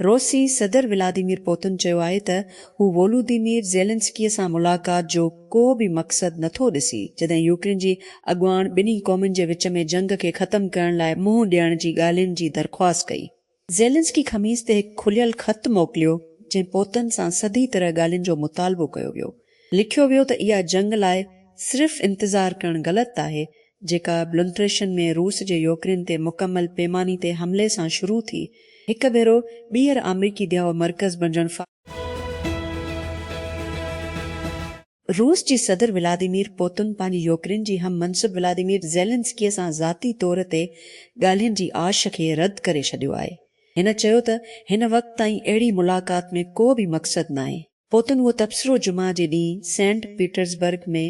روسي صدر Vladimir Putin چيو آهي ته هو وولوديمير زيلنسڪي سان ملاقات جو ڪو به مقصد نٿو ڏسي، جڏهن يوڪرين جي اڳواڻ ٻنهي قومن جي وچ ۾ جنگ کي ختم ڪرڻ لاء منهن ڏيڻ جي ڳالهين جي درخواست ڪئي. زيلنسڪي خميس تي هڪ کليل خط موڪليو، جنهن پوتن سان سڌي طرح ڳالهين جو مطالبو ڪيو ويو. لکيو ويو ته اها جنگ لاء صرف انتظار ڪرڻ غلط آهي، جيڪا بلنٽريشن ۾ روس جي يوڪرين تي مڪمل پيماني تي حملي سان شروع ٿي، هڪ ڀيرو ٻيهر آمريڪي ديهه مرڪز بڻجڻ فارغ آهي. روس جي صدر ولاديمير پوتن پنهنجي يوڪرين جي هم منصب ولاديمير زيلنسڪيء سان ذاتي طور تي ڳالهين جي آش کي رد ڪري ڇڏيو آهي. هن چيو ته هن وقت تائين اهڙي ملاقات ۾ ڪو به مقصد ناهي. پوتن اهو تبصرو جمعه جي ڏينهن سينٽ پيٽرزبرگ ۾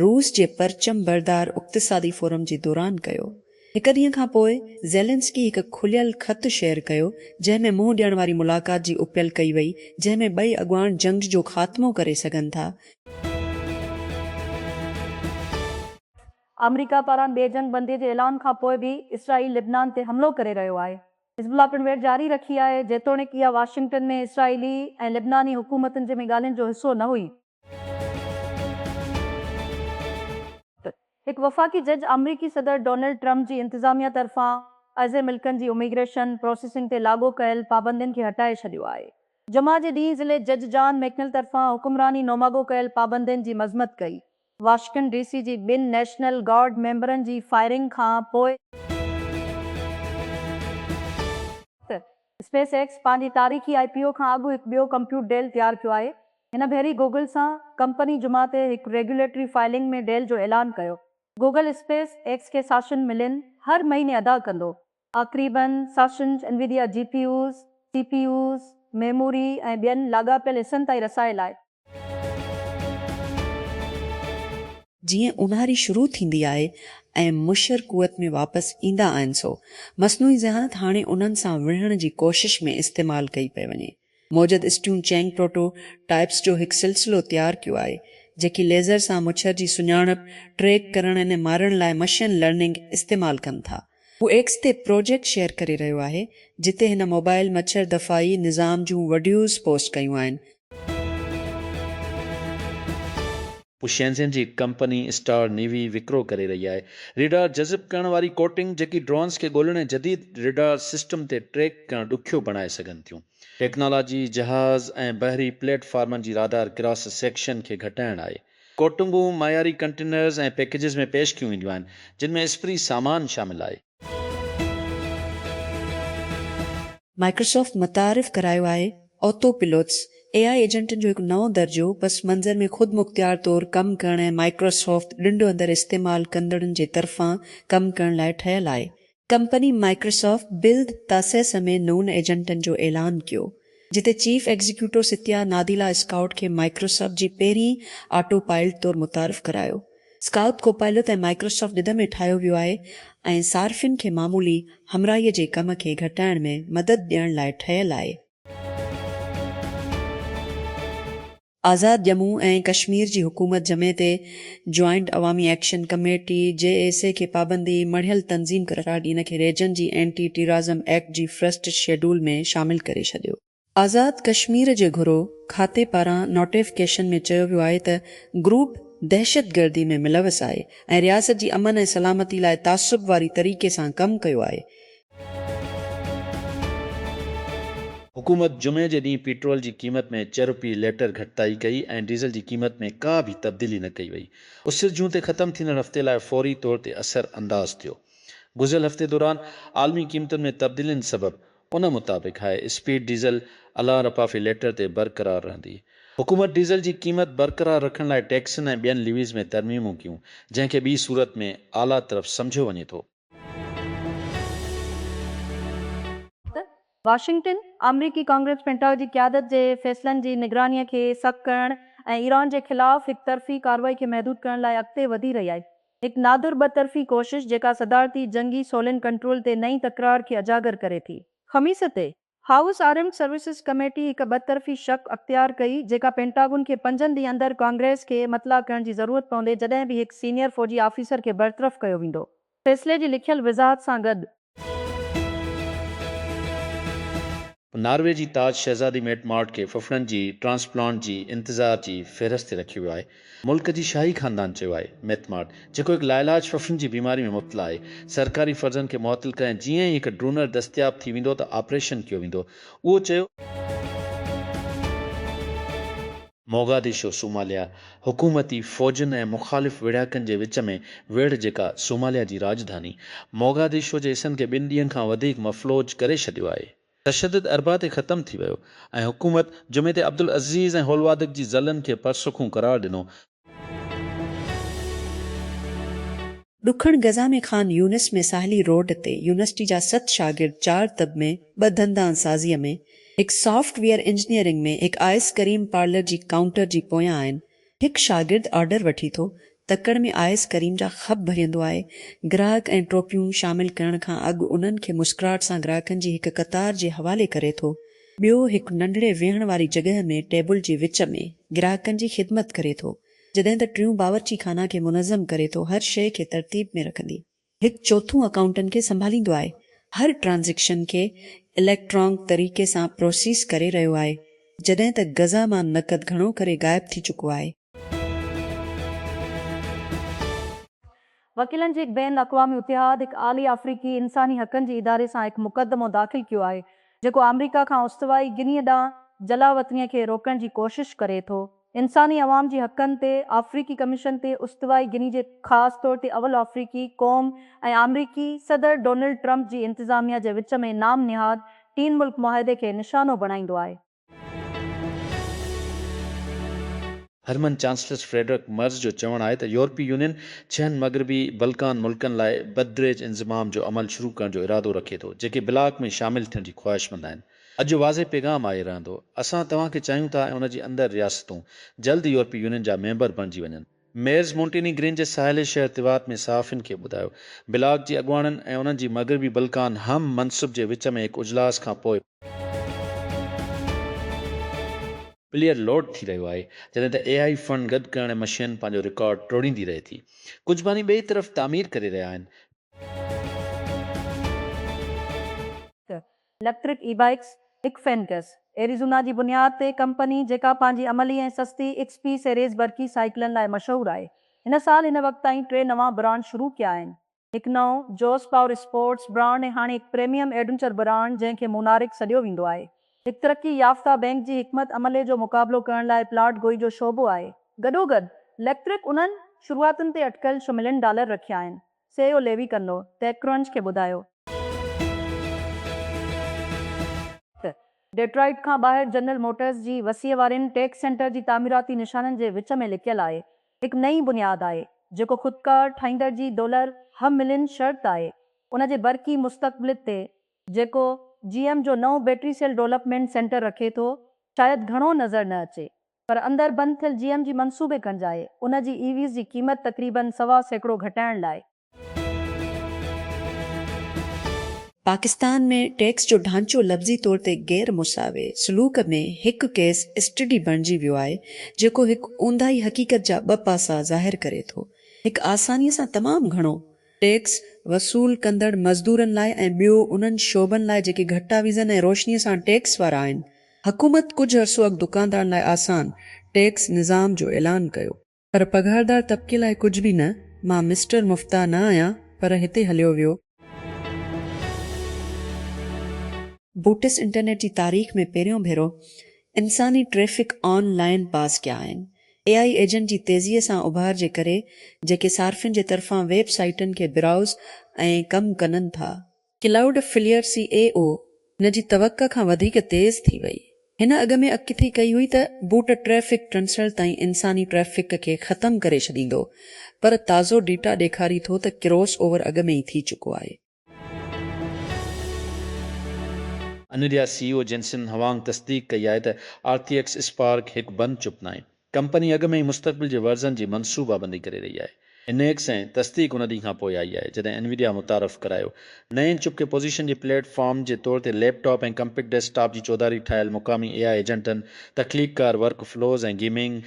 روس جي پرچم بردار اقتصادي فورم جي دوران ڪيو. هڪ ڏينهن کان پوء زيلنسڪي هڪ کليل خط شيئر ڪيو، جنهن ۾ منهن ڏيڻ واري ملاقات جي اپيل ڪئي وئي، جنهن ۾ ٻئي اڳواڻ جنگ جو خاتمو ڪري سگهن ٿا. آمريڪا پاران ٻي جنگ بندي جي اعلان کان پوء به اسرائيل لبنان تي حملو ڪري رهيو آهي. حزب الله پڻ ويڙهه جاري رکي آهي، جيتوڻيڪ اها واشنگٽن ۾ اسرائيلي ۽ لبناني حڪومتن جي ۾ ڳالهين جو حصو نه هئي. هڪ وفاقي جج آمريڪي صدر ڊونلڊ ٽرمپ جي انتظاميا طرفان ازهر ملڪن جي اميگريشن پراسيسنگ تي لاڳو ڪيل پابندين کي هٽائي ڇڏيو آهي. جمعه جي ڏينهن ضلعي جج جان ميڪنل طرفان حڪمراني نوماڳو ڪيل پابندين جي مذمت ڪئي. واشنگٽن ڊي سي جي ٻن نيشنل گارڊ ميمبرن جي فائرنگ کان پوء. اسپيس ايڪس پنهنجي تاريخي آء پي او کان اڳ هڪ ٻيو ڪمپيوٽ ڊيل تيار ڪيو آهي. هن ڀيري گوگل سان ڪمپني جمعه تي هڪ ريگيوليٽري فائلنگ ۾ ڊيل جو اعلان ڪيو. گوگل اسپيس ايڪس کي ساشن ملين هر مهيني ادا ڪندو. آخريبن ساشن Nvidia G P Us, C P Us, memory ۽ ٻين لاڳاپيل حصن تائين رسائي لاء. جيئن اونهاري شروع ٿيندي آهي ۽ مشر قوت ۾ واپس ايندا آهن سو مصنوعي ذهانت هاڻي انهن سان وڙهڻ جي ڪوشش ۾ استعمال ڪئي پئي وڃي. موجد اسٽيون چينگ پروٽو ٽائيپس جو هڪ سلسلو تيار ڪيو آهي جيڪي ليزر سان مڇر جي سڃاڻپ، ٽريڪ ڪرڻ ۽ مارڻ لاء مشين لرننگ استعمال ڪن ٿا. هو ايڪس تي پروجيڪٽ شيئر ڪري رهيو آهي، جتي هن موبائل مڇر دفاعي نظام جون وڊيوز پوسٽ ڪيون آهن. هو شينزين جي ڪمپني اسٽار نيوي وڪرو ڪري رهي آهي. ريڊار جذب ڪرڻ واري ڪوٽنگ، جيڪي ڊرونز کي ڳولڻ ۽ جديد ريڊار سسٽم تي ٽريڪ ڪرڻ ڏکيو بڻائي سگهن ٿيون. ٽيڪنالاجي جهاز ۽ بحري پليٽ فارمن جي رادار ڪراس سيڪشن کي گهٽائڻ آهي. ڪوٽنگون معياري ڪنٽينرز ۽ پيڪيجز ۾ پيش ڪيون وينديون آهن، جن ۾ اسپري سامان شامل آهي. مائڪروسافٽ متعارف ڪرايو آهي آتو پيلوٽس، اي آء ايجنٽن جو هڪ نئون درجو، پس منظر ۾ خود مختيار طور ڪم ڪرڻ ۽ مائڪروسافٽ ڏنڊ اندر استعمال ڪندڙن جي طرفان ڪم ڪرڻ لاء ٺهيل آهي. ڪمپني مائڪروسافٽ بلد تاسيس ۾ نون ايجنٽن جو اعلان ڪيو، جتي chief executive Satya Nadella scout کي مائڪروسافٽ جي پهرين آٽو پائلٽ طور متعارف ڪرايو. اسڪائوٽ ڪوپائلٽ ۽ مائڪروسافٽ ڏد ۾ ٺاهيو ويو آهي ۽ صارفين کي معمولي همراهي جي ڪم کي گهٽائڻ ۾ مدد ڏيڻ لاء ٺهيل آهي. آزاد ڄمون ۽ ڪشمير جي حڪومت جمعي تي joint Awami action committee, J A C, کي پابندي مڙهيل تنظيم قرار ڏي ان کي ريجن جي اينٽي ٽيرازم ايڪٽ جي فرسٽ شيڊول ۾ شامل ڪري ڇڏيو. آزاد ڪشمير جي گهرو کاتي پاران نوٽيفڪيشن ۾ چيو ويو آهي ته گروپ دهشتگردي ۾ ملوث آهي ۽ رياست جي امن ۽ سلامتي لاء تعصب واري طريقي سان ڪم ڪيو آهي حڪومت جمعي جي ڏينهن پيٽرول جي قيمت ۾ چه روپيه ليٽر گهٽتائي ڪئي ۽ ڊيزل جي قيمت ۾ ڪا به تبديلي نه ڪئي وئي. اسر جون تي ختم ٿيندڙ هفتي لاء فوري طور تي اثر انداز ٿيو. گذريل هفتي دوران عالمي قيمتن ۾ تبديلين سبب ان مطابق هاء اسپيڊ ڊيزل الان رپا في ليٽر تي برقرار رهندي. حڪومت ڊيزل جي قيمت برقرار رکڻ لاء ٽيڪسن ۽ ٻين ليويز ۾ ترميمون ڪيون، جنهن کي ٻي صورت ۾ آلا طرف سمجهيو وڃي ٿو. واشنگٽن، آمريڪي ڪانگريس پينٽاگ جي قيادت جي فيصلن جي نگرانيء کي سخت ڪرڻ ۽ ايران جي خلاف هڪ طرفي ڪارروائي کي محدود ڪرڻ لاء اڳتي وڌي رهي آهي. هڪ نادر ٻه طرفي ڪوشش جيڪا صدارتي جنگي سولين ڪنٽرول تي نئين تڪرار کي اجاگر ڪري ٿي. خميس تي، هائوس آرمڊ سروسز ڪميٽي هڪ ٻه طرفي شق اختيار ڪئي جيڪا پينٽاگون کي پنجن ڏينهن اندر ڪانگريس کي مطلع ڪرڻ جي ضرورت پوندي جڏهن به هڪ سينيئر فوجي آفيسر کي برطرف ڪيو ويندو فيصلي جي لکيل وضاحت سان گڏ. ناروي جي تاج شهزادي ميٽ مارٽ کي ڦڦڙن جي ٽرانسپلانٽ جي انتظار جي فهرست تي رکيو ويو آهي. ملڪ جي شاهي خاندان چيو آهي ميٿ مارٽ جيڪو هڪ لاعلاج ڦڦن جي بيماري ۾ مبتلا آهي سرڪاري فرضن کي معطل ڪري ۽ جيئن ئي هڪ ڊونر دستياب ٿي ويندو ته آپريشن ڪيو ويندو اهو چيو موگاديشو، صوماليا، حڪومتي فوجن ۽ مخالف ويڙهاڪن جي وچ ۾ ويڙهه جيڪا صوماليا جي راڄڌاني موگاديشو جي حصن کي ٻن ڏينهن کان وڌيڪ مفلوج ڪري ڇڏيو آهي. تشدد اربع تي ختم ٿي ويو ۽ حڪومت جمعي تي عبدالعزيز ۽ هولوادڪ جي ضلعن کي پرسکون قرار ڏنو. ڏکڻ غزه ۾ خان يونس ۾ ساحلي روڊ تي يونيورسٽي جا ست شاگرد چار طب ۾ ٻه دندان سازيء ۾ هڪ سافٽ ويئر انجنيئرنگ ۾ هڪ آئس ڪريم پارلر جي ڪائونٽر جي پويان آهن هڪ شاگرد آرڊر وٺي ٿو، تڪڙ ۾ آيس ڪريم جا خپ ڀريندو آهي، گراهڪ ۽ ٽوپيون شامل ڪرڻ کان اڳ انهن کي مسڪراهٽ سان گراهڪن جي هڪ قطار جي حوالي ڪري ٿو، ٻيو هڪ ننڍڙي ويهڻ واري جڳهه ۾ ٽيبل جي وچ ۾ گراهڪن جي خدمت ڪري ٿو، جڏهن ته ٽيون باورچي خانه کي منظم ڪري ٿو، هر شيء کي ترتيب ۾ رکندي. هڪ چوٿون اڪائونٽن کي سنڀاليندو آهي هر ٽرانزيڪشن کي اليڪٽرانڪ طريقي سان پروسيس ڪري رهيو آهي جڏهن ته غزه مان نقد گهڻو ڪري غائب ٿي چڪو آهي. وڪيلن جي هڪ بين الاقوامي اتحاد هڪ اعلي آفريڪي انساني حقن جي اداري سان هڪ مقدمو داخل ڪيو آهي جيڪو آمريڪا کان استوائي گني ڏانهن جلاوطني کي روڪڻ جي ڪوشش ڪري ٿو. انساني عوام جي حقن تي آفريڪي ڪميشن تي استوائي گني جي خاص طور تي اول آفريڪي قوم ۽ آمريڪي صدر ڊونلڊ ٽرمپ جي انتظاميا جي وچ ۾ نام نهاد ٽين ملڪ معاهدي کي نشانو بڻائيندو آهي. هرمن چانسلس فريڊرڪ مرز جو چوڻ آهي ته يورپي يونين ڇهن مغربي بلڪان ملڪن لاء بدريج انضمام جو عمل شروع ڪرڻ جو ارادو رکي ٿو جيڪي بلاڪ ۾ شامل ٿيڻ جي خواهشمند آهن. اڄ جو واضح پيغام آهي رهندو. اسان توهان کي چاهيون ٿا ۽ ان جي اندر رياستون جلد يورپي يونين جا ميمبر بڻجي وڃن. ميئرز مونٽيني گرين جي ساحلي شهر تيوات ۾ صحافين کي ٻڌايو. بلاڪ جي اڳواڻن ۽ انهن جي مغربي بلقان هم منصب جي وچ ۾ هڪ اجلاس کان پوء، پليئر لوڊ ٿي رهيو آهي جڏهن ته اي آئي فنڊ گڏ ڪرڻ مشين پنهنجو رڪارڊ ٽوڙيندي رهي ٿي. ڪجهه باني ٻئي طرف تعمير ڪري رهيا آهن. اليڪٽرڪ اي بائيڪس، اڪفينڪس، ايريزونا جي بنياد تي ڪمپني جيڪا پنهنجي عملي ۽ سستي ايڪس پي سيريز برقي سائيڪلن لاء مشهور آهي، هن سال هن وقت تائين ٽي نوان برانڊ شروع ڪيا آهن، هڪ نئون جوس پاور اسپورٽس برانڊ ۽ هاڻي هڪ پريميم ايڊونچر برانڊ جنهن کي مونارڪ سڏيو ويندو آهي، هڪ ترقي يافته بئنڪ جي حڪمت عملي جو مقابلو ڪرڻ لاء پلاٽ گوئي جو شعبو آهي. گڏوگڏ، اليڪٽرڪ انهن شروعاتن تي اٽڪل ڇهه ملين ڊالر رکيا آهن، سي اهو ليوي ڪندو، ٽيڪ ڪرنچ کي ٻڌايو. ته ڊيٽرائيٽ کان ٻاهر جنرل موٽرز جي وسيع وارين ٽيڪ سينٽر جي تعميراتي نشانن جي وچ ۾ لڪيل آهي هڪ نئين بنياد آهي جيڪو خودڪار ٺاهيندڙ جي ڊولر هملين شرط آهي ان جي برقي مستقبلت تي جيڪو جي ايم جو نئون بيٽري سيل ڊولپمينٽ سينٽر رکي ٿو شايد گهڻو نظر نه اچي پر اندر بند ٿيل جي ايم جي منصوبي ڪنجائي ان جي اي ويز جي قيمت تقريبن سوا سيڪڙو گهٽائڻ لاء. پاڪستان ۾ ٽيڪس جو ڍانچو لفظي طور تي غير مساوي سلوڪ ۾ هڪ ڪيس اسٽڊي بڻجي ويو آهي جيڪو هڪ اونداهي حقيقت جا ٻه پاسا ظاهر ڪري ٿو هڪ آساني سان تمام گهڻو ٽيڪس وصول ڪندڙ مزدورن لاء ۽ ٻيو انهن شعبن لاء جيڪي گهٽا ويزن ۽ روشني سان ٽيڪس وارا آهن حڪومت ڪجهه عرصو اڳ دڪاندارن لاء آسان ٽيڪس نظام جو اعلان ڪيو. پر پگهاردار طبقي لاء ڪجهه به نه. مان مسٽر مفتاح نه آهيان پر هتي هليو ويو. بوٽس انٽرنيٽ جي تاريخ ۾ پهريون ڀيرو انساني ٽريفڪ آن لائن پاس ڪيا آهن. اي آئي ايجنٽ جي تيزيء سان اڀار جي ڪري جيڪي صارفين جي طرفان ويب سائيٽن کي برائوز ۽ ڪم ڪنن ٿا ڪلائوڊ فليئر سي اي او هن جي توقع کان وڌيڪ تيز ٿي وئي. هن اڳ ۾ اڪٿي ڪئي هئي ته بوٽ ٽريفڪ ٽنسل تائين انساني ٽريفڪ کي ختم ڪري ڇڏيندو پر تازو ڊيٽا ڏيکاري ٿو ته ڪروس اوور اڳ ۾ ئي ٿي چڪو آهي. انويڊيا سي اي او جينسن هوانگ تصديق ڪئي آهي ته آرٽي ايڪس اسپارڪ هڪ بند چپ ناهي. ڪمپني اڳ ۾ ئي مستقبل جي ورزن جي منصوبابندي ڪري رهي آهي. انيڪس ۽ تصديق ان ڏينهن کان پوء آئي آهي جڏهن انويڊيا متعارف ڪرايو. نئين چپ کي پوزيشن جي پليٽ فارم جي طور تي laptop ۽ compact desktop جي چوڌاري ٺاهيل مقامي اي آء ايجنٽن، تخليق ڪار workflows ۽ gaming,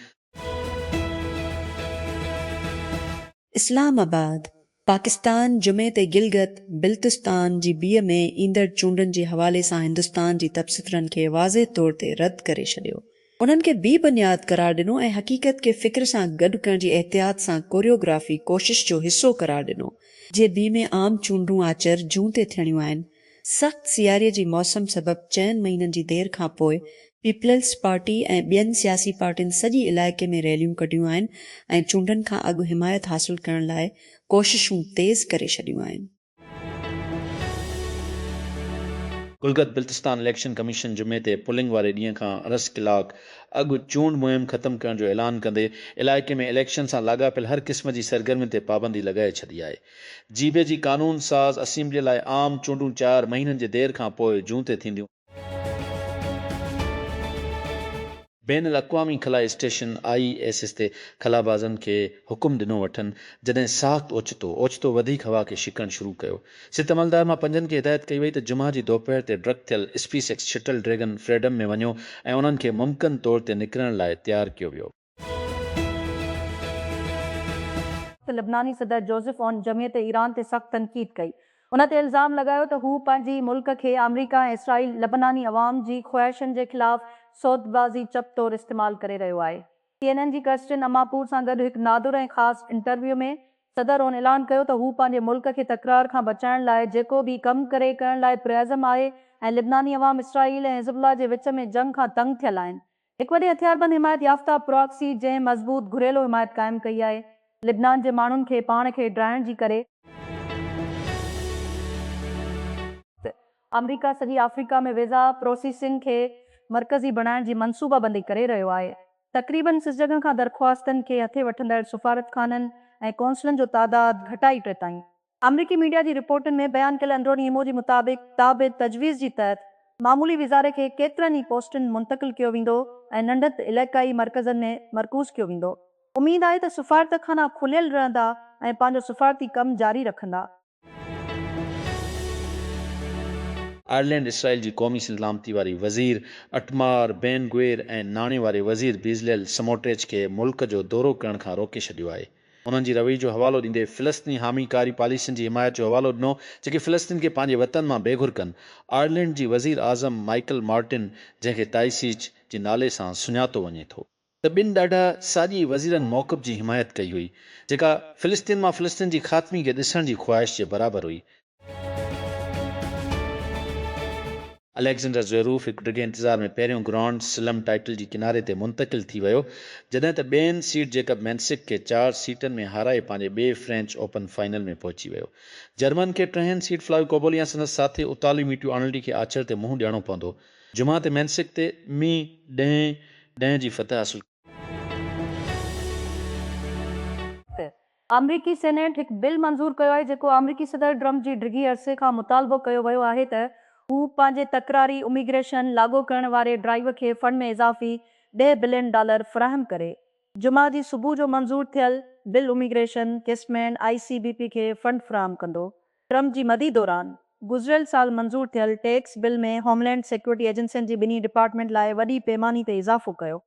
Islamabad, Pakistan جمعي تي گلگت بلتستان جي بي ۾ ايندڙ چونڊن جي حوالي سان هندستان جي تبصترن کي واضح طور تي رد ڪري ڇڏيو، انهن کي بي بنياد قرار ڏنو ۽ حقيقت کي فڪر سان گڏ ڪرڻ جي احتياط سان ڪوريوگرافي ڪوشش جو حصو قرار ڏنو. جي بي ۾ عام چونڊون آچر، جون تي ٿيڻيون آهن. سخت سياري جي موسم سبب چئن مهينن جي دير کان پوء پيپلز پارٽي ۽ ٻين سياسي پارٽين سڄي علائقي ۾ ريليون ڪڍيون آهن ۽ چونڊن کان اڳ حمايت حاصل ڪرڻ لاء ڪوششون تيز ڪري ڇڏيون آهن. گلگت بلتستان اليڪشن ڪميشن جمعي تي پولنگ واري ڏينهن کان ارس ڪلاڪ اڳ چونڊ مهم ختم ڪرڻ جو اعلان ڪندي علائقي ۾ اليڪشن سان لاڳاپيل هر قسم جي سرگرمين تي پابندي لڳائي ڇڏي آهي. جيبي جي قانون ساز اسيمبليء لاء عام چونڊون چار مهينن جي دير کان پوء جون تي ٿينديون. بين الاقوامي خلا اسٽيشن، آء ايس ايس، تي خلابازن کي حڪم ڏنو وٺن، جڏهن ساخت اوچتو اوچتو وڌيڪ هوا کي ڇڪڻ شروع ڪيو. ست عملدار مان پنجن کي هدايت ڪئي وئي ته جمعه جي دوپهر تي ڊڪ ٿيل SpaceX shuttle Dragon Freedom ۾ وڃو ۽ انهن کي ممڪن طور تي نڪرڻ لاء تيار ڪيو ويو. ته لبناني صدر جوزف عون جمعيت ايران تي سخت تنقيد ڪئي. ان تي الزام لڳايو ته هو پنهنجي ملڪ کي آمريڪا ۽ اسرائيل لبناني عوام جي خواهشن جي خلاف سودبازي چپ طور استعمال ڪري رهيو آهي. سي اين اين جي ڪرسٽين اماپور سان گڏ هڪ نادر ۽ خاص انٽرويو ۾ صدر عون اعلان ڪيو ته هو پنهنجي ملڪ کي تڪرار کان بچائڻ لاء جيڪو به ڪم ڪري ڪرڻ لاء پرعزم آهي ۽ لبناني عوام اسرائيل ۽ حزب الله جي وچ ۾ جنگ کان تنگ ٿيل آهن هڪ وڏي هٿياربند حمايت يافته پراڪسي جنهن مضبوط گهريلو حمايت قائم ڪئي آهي لبنان جي ماڻهن کي پاڻ کي ڊاهڻ جي ڪري، ته آمريڪا سڄي آفريڪا ۾ ويزا پروسيسنگ کي مرڪزي بڻائڻ جي منصوبه بندي ڪري رهيو آهي تقريبن سس جڳهن کان درخواستن کي هٿي وٺندڙ سفارتخانن ۽ قونصلن جو تعداد گهٽائي ٽي تائين آمريڪي ميڊيا جي رپورٽن ۾ بيان ڪيل اندروني ايمو جي مطابق تاب تجويز جي تحت معمولي وزاري کي ڪيترن ئي پوسٽن منتقل ڪيو ويندو ۽ ننڍت علائقائي مرڪزن ۾ مرڪوز ڪيو ويندو اميد آهي ته سفارتخانا کليل رهندا ۽ پنهنجو سفارتي ڪم جاري رکندا. آئرلينڊ اسرائيل جي قومي سلامتي واري وزير اٽمار بين گوير ۽ ناڻي واري وزير بيزليل سموٽريچ کي ملڪ جو دورو ڪرڻ کان روڪي ڇڏيو آهي. انهن جي رويي جو حوالو ڏيندي فلسطيني حامي ڪاري پاليسين جي حمايت جو حوالو ڏنو جيڪي فلسطين کي پنهنجي وطن مان بي گهر ڪن. آئرلينڊ جي وزير اعظم مائيڪل مارٽن جنهن کي تائيسيچ جي نالي سان سڃاتو وڃي ٿو. ته ٻن ڏاڍا ساڄي وزيرن موقف جي حمايت ڪئي هئي جيڪا فلسطين مان فلسطين جي خاتمي کي ڏسڻ جي خواهش جي برابر هئي. اليگزينڊر زويروف هڪ ڊگهي انتظار ۾ پهريون گرانڊ سلم ٽائيٽل جي ڪناري تي منتقل ٿي ويو، جڏهن ته ٻين سيڊ جيڪب مينسڪ کي چار سيٽن ۾ هارائي پنهنجي ٻئي فرينچ اوپن فائنل ۾ پهچي ويو. جرمن کي ٽهين سيڊ فلاويو ڪوبولي يا سندس ساٿي اطالوي ميٽيو آرنلڊي کي آچر تي منهن ڏيڻو پوندو. جمعه تي مينسڪ تي مي ڏهين ڏهين جي فتح حاصل ڪئي. آمريڪي سينيٽ هڪ بل منظور ڪيو آهي جيڪو آمريڪي صدر ٽرمپ جي ڊگهي عرصي کان مطالبو ڪيو ويو آهي ته هو پنهنجي تڪراري اميگريشن لاڳو ڪرڻ واري ڊرائيو کي فنڊ ۾ اضافي ڏهه بلين ڊالر فراهم ڪري. جمعه جي صبح جو منظور ٿيل bill immigration case ۾ I C B P کي فنڊ فراهم ڪندو. ٽرمپ جي مدي دوران گذريل سال منظور ٿيل tax bill ۾ homeland security ايجنسين جي ٻنهي ڊپارٽمينٽ لاء وڏي پيماني تي اضافو ڪيو.